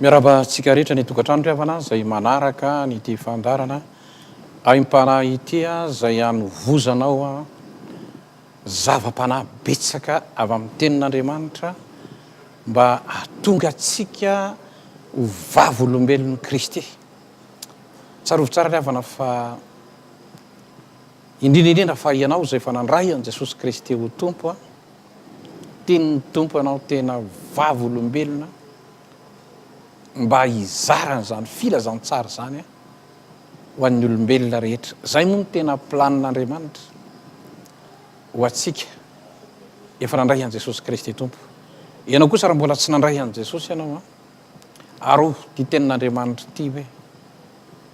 Miarahaba antsika rehetra ny tokantrano ry havana izay manaraka ny ity fandarana aim-panahy ity izay anovozanao zava-panahy betsaka avy amin'ny tenin'Andriamanitra mba hahatonga antsika ho vavolombelon'i Kristy. Tsarovy tsara ry havana fa indrindra indrindra fa ianao izay efa nandray an'i Jesosy Kristy ho Tompo Tenin'ny Tompo anao tena vavolombelona mba hizara an'izany filazantsara izany ho an'ny olombelona rehetra. Izay moa no tena planin'Andriamanitra ho antsika. Efa nandray an'i Jesosy Kristy Tompo. Ianao kosa raha mbola tsy nandray an'i Jesosy ianao, arovy ity tenin'Andriamanitra ity hoe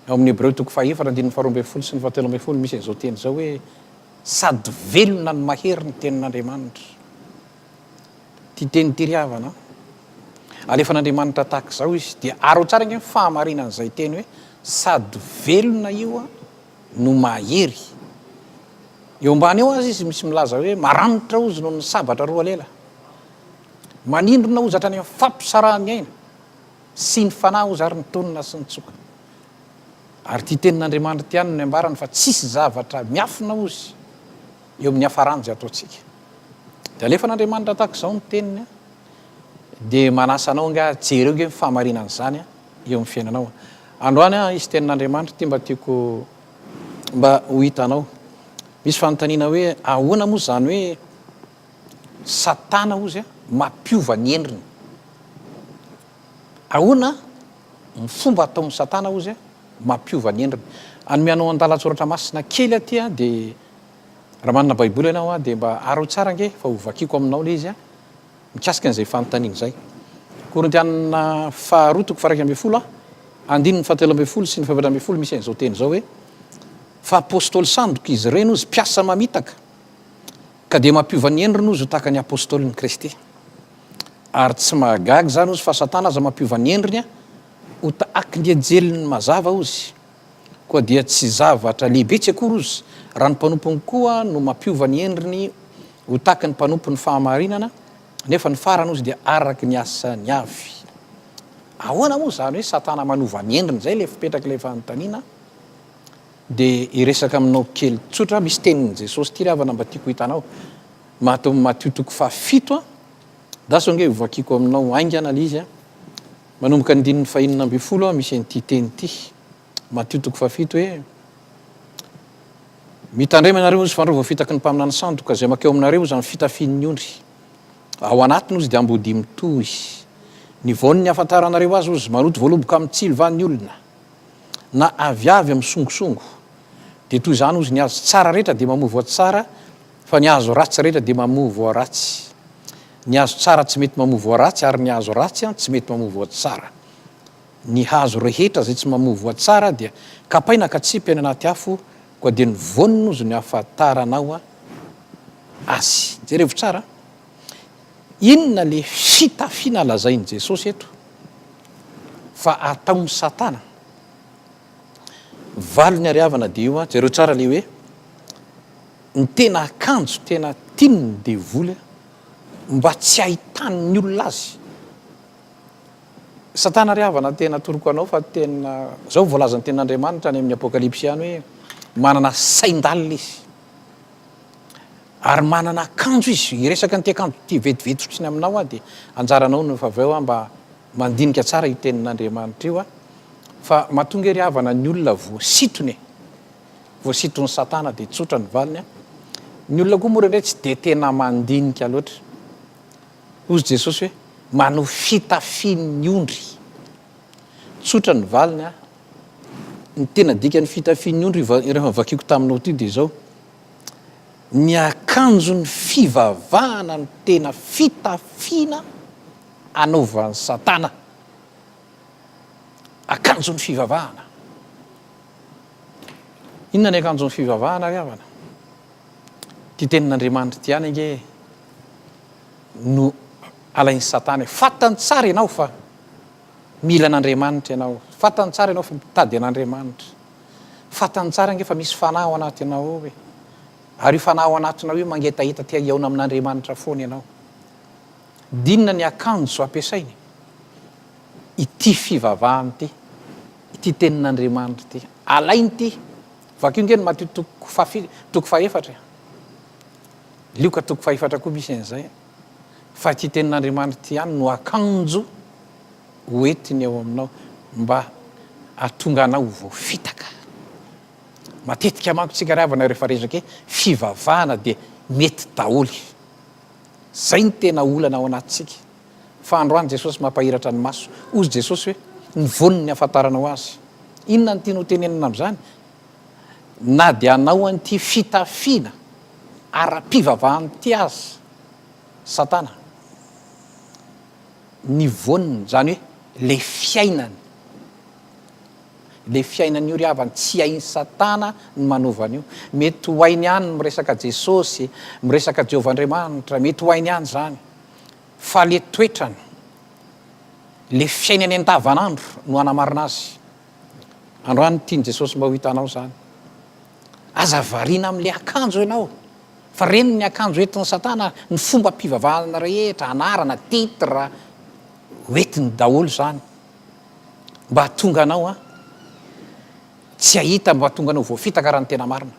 ao amin'ny Hebreo toko fahefatra andininy faharoa ambin'ny folo sy ny fahatelo ambin'ny folo misy an'izao teny izao hoe Sady velona no mahery ny tenin'Andriamanitra. Tia teny ity ry havana an! Alefan'Andriamanitra tahaka izao izy dia araho tsara ange ny fahamarinan'izay teny hoe sady velona io no mahery. Eo ambany eo aza izy misy milaza hoe maranitra hozy noho ny sabatra roa lela. Manindrona hozy hatrany amin'ny fampisaraha-miaina. Sy ny fanahy oza ary ny tonina sy ny tsoka. Ary ity tenin'Andriamanitra ity ihany no niambarany fa tsisy zavatra miafina ozy eo amin'ny hafarany izay ataontsika. Dia alefan'Andriamanitra tahaka izao ny teniny dia manasa anao nga jereo nge ny fahamarinan'izany eo amin'ny fiainanao. Androany aho hisy tenin'Andriamanitra ity mba tiako mba ho hitanao. Misy fanontaniana hoe ahoana moa izany hoe Satana hozy mampiova ny endriny. Ahoana ny fomba ataon'i Satana hozy mampiova ny endriny? Hanome anao andalan-tsoratra masina kely aty dia raha manana baiboly ianao dia mba araho tsara ange fa ho vakiko aminao ilay izy mikasika an'izay fanontaniana izay. Korintiana faharoa toko faha-iraika ambin'ny folo andininy fahatelo ambin'ny folo sy ny fahefatra ambin'ny folo misy an'izao teny izao hoe, fa apostoly sandoka izy ireny hozy, mpiasa mamitaka. Ka dia mampiova ny endriny ozy ho tahaka ny Apôstôlin'i Kristy. Ary tsy mahagaga izany ozy fa Satana aza mampiova ny endriny ho tahaka ny anjelin'ny mazava ozy. Koa dia tsy zavatra lehibetsy akory ozy raha ny mpanompony koa no mampiova ny endriny ho tahaka ny mpanompon'ny fahamarinana, nefa ny farany ozy dia araka ny asany avy. Ahoana moa izany hoe Satana manova ny endriny? Izay ilay fipetrak'ilay fanontaniana. Dia hiresaka aminao kely tsotra aho, misy tenin'i Jesosy ity ry havana mba tiako hitanao, mato amin'ny Matio toko fahafito an, andraso ange hovakiko aminao haingana ilay izy an, manomboka ny andininy fahenina ambin'ny folo an misy an'ity teny ity, Matio toko fahafito hoe, Mitandrema ianareo ozy fa andreo voafitaky ny mpaminany sandoka, izay makeo aminareo ozy amin'ny fitafian'ny ondry, ao anatiny ozy dia ambodia mitohy, ny vaon'ny hahafantaranareo azy ozy, maloto voaloboka amin'ny tsilo va ny olona? na aviavy amin'ny songosongo dia toy izany hozy ny azo tsara rehetra dia mamoa voa tsara fa ny azo ratsy rehetra dia mamoa voa ratsy ny azo tsara tsy mety mamoa voa ratsy ary ny azo ratsy an tsy mety mamoa voa tsara ny hazo rehetra izay tsy mamoa voa tsara dia kapaina ka tsipy any anaty afo koa dia ny voany nozy ny afatarana ao azy jereo tsara Inona le fitafiana lazain'i Jesosy eto fa ataon'i Satana? Valiny ary havana dia io an, jereo tsara le hoe ny tena akanjo tena tian'ny devoly an, mba tsy ahitan'ny olona azy. Satana ry havana tena atoroko anao fa tena, zao ny voalazan'ny tenin'Andriamanitra any amin'ny Apokalypsy any hoe manana sain-dalina izy. ary manana akanjo izy hiresaka an'ity akanjo ity vetivety fotsiny aminao aho dia anjaranao no efa avy eo aho mba mandinika tsara io tenin'Andriamanitra io aho fa mahatonga ery havana ny olona voasitony e voasiton'ny satana dia tsotra ny valiny a ny olona koa mora indray tsy dia tena mandinika loatra hoy Jesosy hoe manao fitafian'ny ondry tsotra ny valiny a ny tena dikan'ny fitafian'ny ondry rehefa vakiko taminao ity dia izao ny akanjon'ny fivavahana no tena fitafiana anaovan'i satana akanjon'ny fivavahana inona ny akanjon'ny fivavahana ry havana ity tenin'andriamanitra ity ihany ange no alain'ny satana fantany tsara ianao fa Mila an'Andriamanitra ianao. Fantany tsara ianao fa mitady an'Andriamanitra. Fantany tsara ange fa misy fanahy ao anatinao ao e. Ary io fanahy ao anatinao io mangetaheta te hihaona amin'Andriamanitra foana ianao. Dinona ny akanjo ampiasainy? Ity fivavahana ity, ity tenin'Andriamanitra ity. Alainy ity. Vakio ange ny Matio toko faha fito, toko faha efatra e. Lioka toko faha efatra koa misy an'izay. fa ity tenin'Andriamanitra ity ihany no akanjo ho entiny ao aminao mba hahatonga anao ho voafitaka. Matetika manko tsika ry havana rehefa resaka hoe fivavahana dia mety daholo. Zay no tena olana ao anatintsika. Fa androany Jesosy mampahiratra ny maso. Hozy Jesosy hoe, ny voan'ny afantaranao azy. Inona no tiany ho tenenina amin'izany? na dia hanao an'ity fitafiana ara-pivavahana ity aza Satana, ny voaniny, izany hoe ilay fiainany, ilay fiainany io ry havana, tsy hain'i Satana ny manova an'io. Mety ho hainy ihany ny miresaka Jesosy, miresaka Jehovah Andriamanitra, mety ho hainy ihany izany, fa ilay toetrany, ilay fiainany andavanandro no hanamarina azy. Androany tian'i Jesosy mba ho hitanao izany. Aza variana amin'ilay akanjo ianao, fa reniny ny akanjo entin'i Satana, ny fombam-pivavahana rehetra, anarana, titre, ho entiny daholo izany mba hahatonga anao an, tsy hahita, mba hahatonga anao ho voafitaka raha ny tena marina.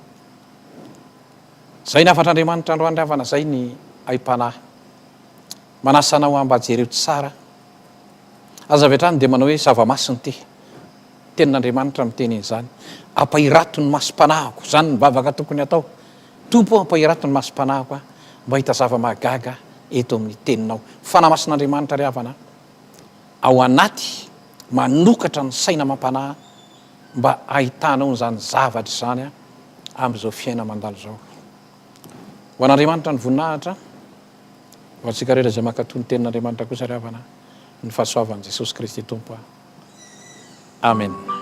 Izay ny hafatr'Andriamanitra androany havana, izay ny aim-panahy. Manasa anao aho mba jereo tsara an! Aza avy hatrany dia manao hoe zava-masina ity. Tenin'Andriamanitra miteny an'izany. Ampahirato ny masom-panahiko, izany ny vavaka tokony hatao. Tompo ô, ampahirato ny masom-panahiko aho mba hahita zava-mahagaga eto amin'ny Teninao. Fanahy Masin'Andriamanitra ry havana ao anaty, manokatra ny saina amam-panahy mba hahitanao izany zavatra izany amin'izao fiainana mandalo izao. Ho an'Andriamanitra ny voninahitra, ho antsika rehetra izay mankatò ny tenin'Andriamanitra kosa ry havana ny fahasoavan'i Jesosy Kristy Tompo. Amen.